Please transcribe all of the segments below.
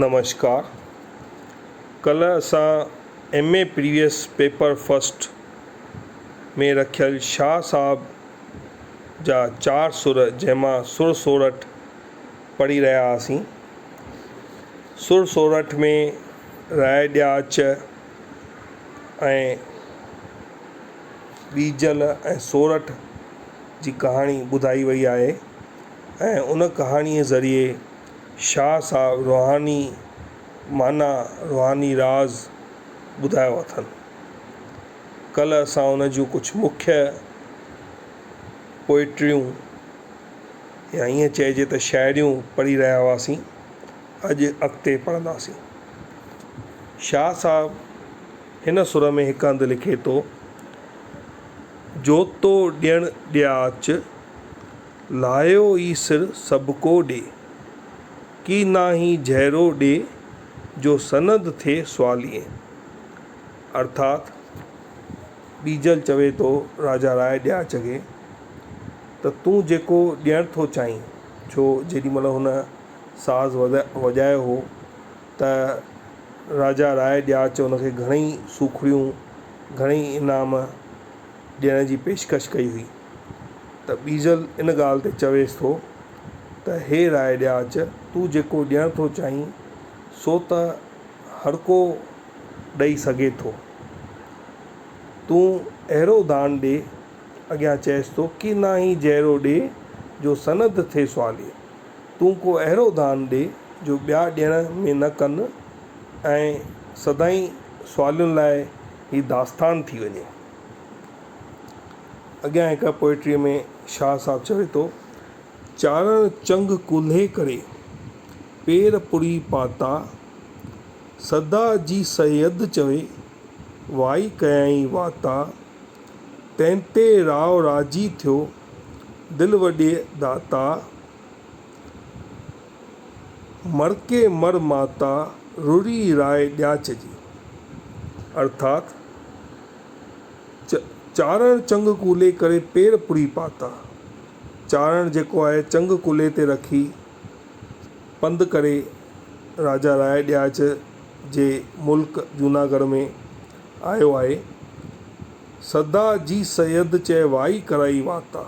نمشڪار ڪلهه اسان M A previous paper first ۾ رکيل شاهه صاحب جا چار سر جنهن مان سر سورٺ پڙهي رهيا هئاسين. سر سورٺ ۾ راء ڏياچ ۽ ٻيجل ۽ سورٺ جي ڪهاڻي ٻڌائي وئي آهي ۽ ان ڪهاڻيء ذريعي شاهه صاحب روحاني معنيٰ روحاني راز ٻڌايو اٿن. ڪلهه اسان ان جون ڪجهه مکيه پوئٽريون يا ائين چئجي ته شاعريون پڙهي رهيا هئاسين، اڄ اڳتي پڙهنداسين. شاهه صاحب هن سر ۾ هڪ هنڌ لکي ٿو، جوتو ڏيڻ ڏيا اچ، لاهيو ئي سر سڀڪو ڏي. ڪي ناهي جهيرو ڏي جو سند ٿئي سواليئي. ارٿات ڏيجل چوي ٿو راجا راء ڏياچ کي ته تون جيڪو ڏيڻ ٿو چاهين ڇو جيڏي مهل هن ساز وڄايو هو ته راجا راء ڏياچ هن کي گهڻئي سوکڙيون، گهڻئي انعام ڏيڻ جي پيشڪش ڪئي هئي. ته ٻيجل ان ڳالهه تي چويس ٿو ته هي راء ڏياچ، تون جيڪو ڏيڻ ٿو چاهين، سو ته هرڪو ڏئي سگهي ٿو. تون اهڙو دان ڏي، اڳيان چئيس ٿو، ڪي نه هي جهڙو ڏي، جو سند ٿئي سوالي. تون ڪو اهڙو دان ڏي، جو ٻيا ڏيڻ ۾ نه ڪن ۽ سدائين سوالين لاء هي داستان ٿي وڃي. اڳيان هڪ پوئٽريء ۾ شاهه صاحب چوي ٿو. چارڻ چنگ ڪولهي ڪري، پير پوري پاتا، سدا جي سيد چوي، وائي ڪيائين واتا، تنهن تي راء راضي ٿيو، دل وڏي داتا. مرڪي مر ماتا روري راء ڏياچ جي، ارٿات، چارڻ چنگ ڪولي ڪري پير پوري پاتا، چارڻ جيڪو آهي چنگ ڪولي تي رکي پنڌ ڪري راجا راء ڏياچ جي ملڪ جوناگڙهه ۾ آيو آهي، سدا جي سيد چئي وائي ڪرائي واتا.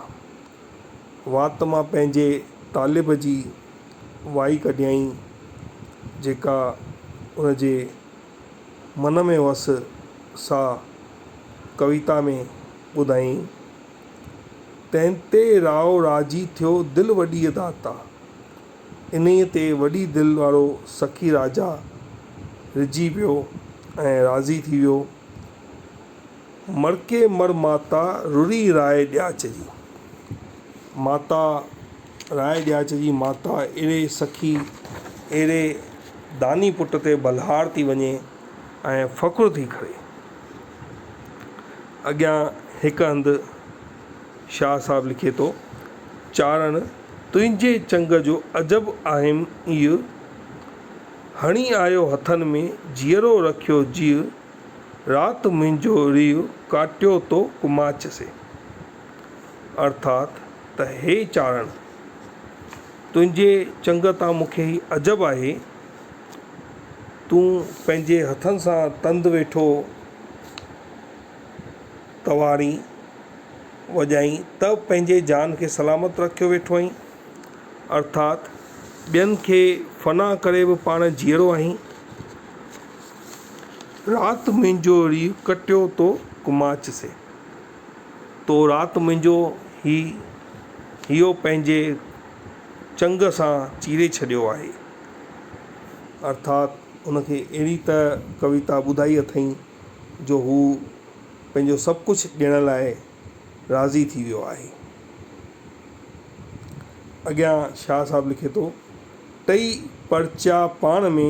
وات مان پنهنجي طالب جي وائي ڪڍيائين، جيڪا ان جي من ۾ هئس، سا ڪويتا ۾ ٻڌايائين. تنهن تي راء راضي ٿيو دل وڏيء داتا. انهيء تي وڏي دل وارو سخي راجا رجهي پيو ۽ راضي ٿي ويو. مڙڪي مڙ ماتا روري راء ڏياچ جي. ماتا راء ڏياچ جي ماتا اهڙي سخي اهڙي داني پٽ تي بلهار ٿي وڃي ۽ فخر ٿي ڪري. اڳيان هڪ هنڌ شاهه صاحب لکي ٿو، چارڻ تنهنجي چنگ جو عجب آهيم ايء، هڻي آيو هٿن ۾ جيئرو رکيو جيء، رات منهنجو ريو ڪاٽيو تو ڪماچ سين. ارٿات ته هي چارڻ! تنهنجي چنگ تان مون کي هي عجب آهي، تون پنهنجي هٿن سان تند ويٺو تواڻي وڄائين ته پنهنجي جان کي سلامت رکيو ويٺو آهين. ارٿات ٻين کي فنا ڪري به پاڻ جيئرو آهين. رات منهنجو ري ڪٽيو تو ڪماچ سين. تو رات منهنجو هي هيو پنهنجي چنگ سان چيري ڇڏيو آهي. ارٿات هن کي اهڙي ته ڪويتا ٻڌائي اٿئين جو هو پنهنجو سڀ ڪجهه ڏيڻ لاء راضي ٿي ويو آهي. اڳيان شاهه صاحب لکي ٿو، ٽئي پرچا پاڻ ۾.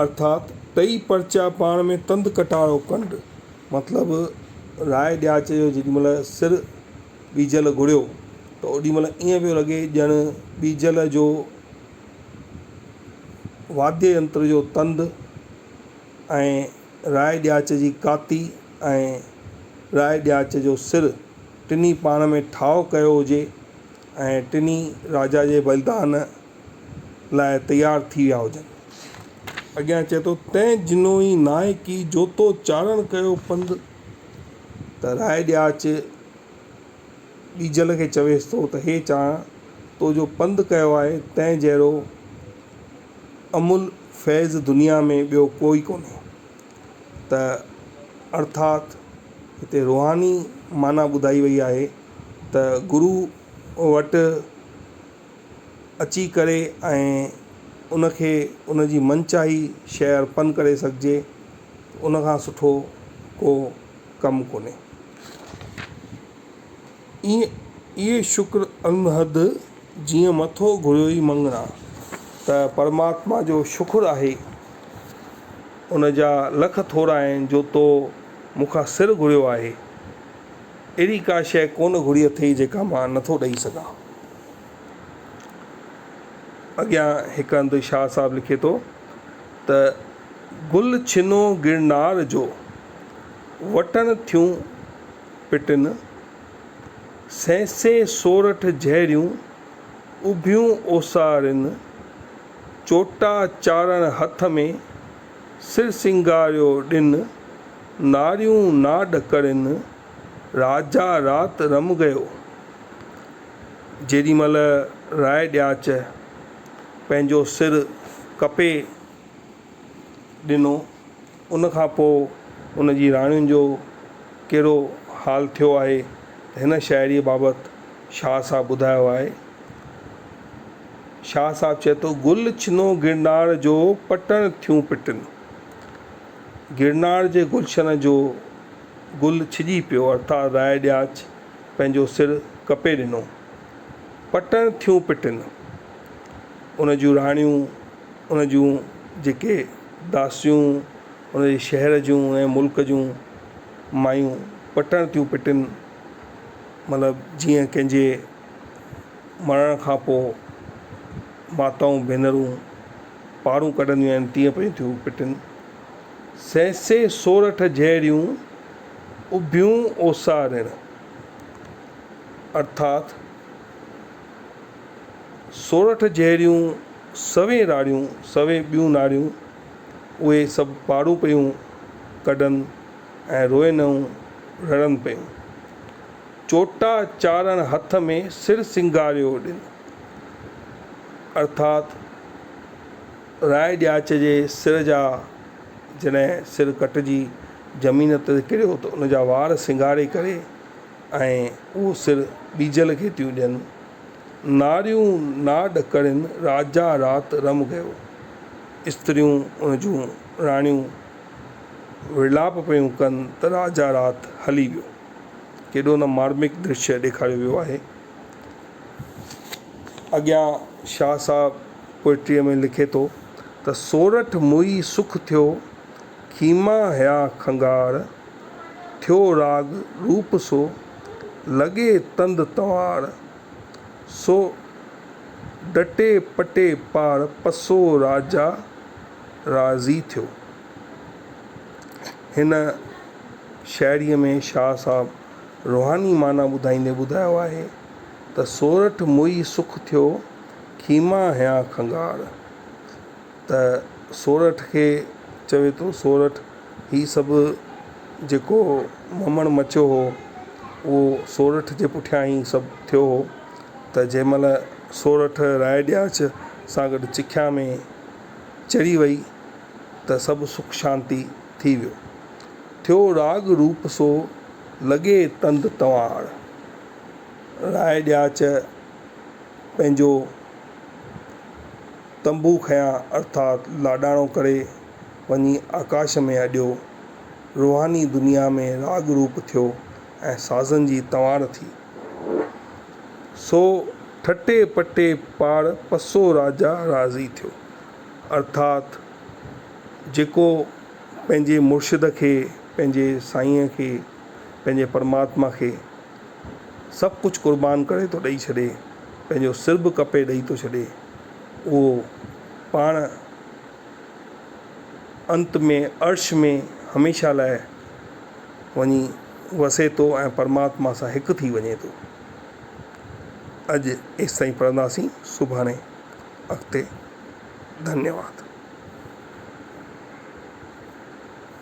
ارٿات ٽئي پرچا پاڻ ۾ تند ڪٽارو ڪنڊ مطلب راء ڏياچ جو جيڏي مھل سر ٻيجل گھڙيو ته اوڏي مھل ائين پيو لڳي ڄڻ ٻيجل جو واديه ينتر جو تند ۽ راء ڏياچ جي ڪاتي ۽ راء ڏياچ جو سر ٽنھي پاڻ ۾ ٺاھو ڪيو ھجي ۽ ٽنھي راجا جي بلدان لاء تيار ٿي ويا هجن. اڳيان چئي ٿو، تنهن جنوئي ناهي ڪي، جو تو چاڙهڻ ڪيو پنڌ ته راء ڏياچ ٻيجل کي چويس ٿو ته هي چاڙهڻ تو جو پنڌ ڪيو آهي، تنهن جهڙو املهه فيض دنيا ۾ ٻيو ڪوئي ڪونهي. ته ارٿات هتي روحاني معنيٰ ٻڌائي وئي آهي ته گرو وٽ اچي ڪري ۽ ان کي ان جي من چاهي شيء ارپن ڪري سگهجي ته ان کان سٺو ڪو ڪم ڪونهي. ايئن اهي شڪر انهد جيئن مٿو گهريوئي مڱڻا ته پرماتما جو شڪر آهي ان جا لک ٿورا آهن جو تو مون کان سر گهريو آهي. اهڙي ڪا شيء ڪونه گهري اٿئي جيڪا مان نٿو ڏئي سگهان. اڳيان هڪ هنڌ شاهه صاحب لکي ٿو ته، گل ڇنو گرنار جو، وٽڻ ٿيون پٽن، سينسي سورٺ جهريون، اڀيون اوسارين، چوٽا چارڻ هٿ ۾، سر سينگاريو ڏن، ناريون نا ڏڪرين، راجا رات رم گيو. جيڏي مھل راء ڏياچ پنھنجو سر ڪپي ڏنو، ان کان پوء ان جي راڻين جو ڪھڙو حال ٿيو آھي ته ھن شاعريء بابت شاھه صاحب ٻڌايو آھي. شاهه صاحب چئي ٿو، گل ڇنو گرناڙ جو پٽڻ ٿيون پٽن. گرناڙ جي گلشن جو گل ڇڄي پيو ارٿات راء ڏياچ پنهنجو سر ڪپي ڏنو. پٽڻ ٿيون پٽن. ان جون راڻيون، ان جون جيڪي داسيون، ان جي شهر جون ۽ ملڪ جون مايون پٽڻ ٿيون پٽن. مطلب جيئن ڪنهن جي مرڻ کان پوء ماتائون ڀينرون پاڙون ڪڍنديون آهن تيئن پيون ٿيون پٽن. سهسي سورٺ جهڙيون اڀيون اوسارڻ ارٿات سورٺ جهڙيون سوين راڙيون، سوين ٻيون ناڙيون، اهي سڀ پاڙون پيون ڪڍن ۽ روئن ۽ رڙن پيون. چوٽا چاڙهڻ هٿ ۾ سر سينگاريو ڏن ارٿات راء ڏياچ جي سر جا جڏهن سر ڪٽجي زمين تي ڪريو ته ان جا وار سينگاري ڪري ۽ اهو سر ٻيجل کي ٿيون ڏين ناريون نا ڏڪرين راجا رات رم گيو استريون ان جون راڻيون وڙلاپ پيون ڪن ته راجا رات هلي ويو. ڪيڏو نه مارمڪ درشيه ڏيکاريو ويو آهي. اڳيان شاهه صاحب پوئٽريء ۾ لکي ٿو ته سورٺ موئي سک ٿيو، خيما هيا کنگهار، ٿيو راڳ روپ سو، لڳي تند تنوار، سو ڊٽي پٽي پار پسو راجا راضي ٿيو. هن شاعريء ۾ شاهه صاحب روحاني معنيٰ ٻڌائيندي ٻڌايو آهي ته سورٺ موئي سک ٿيو، خيما هنيان کنگهار ته سورٺ کي چوي ٿو سورٺ هي سڀ جيڪو ممڻ مچيو هو اهو سورٺ جي پٺيان ئي سڀ ٿيو هو ته جنهن مهل سورٺ رائي ڏياچ سان گڏ چکيا ۾ چڙهي وئي ته سڀ سک شانتي ٿي ويو. ٿيو راڳ روپ سو لڳي تند تنواڙ. راء ڏياچ پنهنجو تنبو کنيان ارٿات لاڏاڻو ڪري وڃي آڪاش ۾ اڏيو. روحاني دنيا ۾ راڳ روپ ٿيو ۽ سازن جي تنواڙ ٿي. سو ٺٽي پٽي پاڙ پسو راجا راضي ٿيو. ارٿات جيڪو پنهنجي مرشد کي، پنهنجي سائينء کي، پنهنجي پرماتما کي سڀ ڪجهه قربان ڪري ٿو ڏئي ڇڏي، پنهنجو سر به ڪپي ڏئي ٿو ڇڏي، اهو پاڻ انت ۾ عرش ۾ هميشه لاء وڃي وسي ٿو ۽ پرماتما سان هڪ ٿي وڃي ٿو. اڄ ايستائين پڙهنداسين سڀاڻي اڳتي ڌنيواد.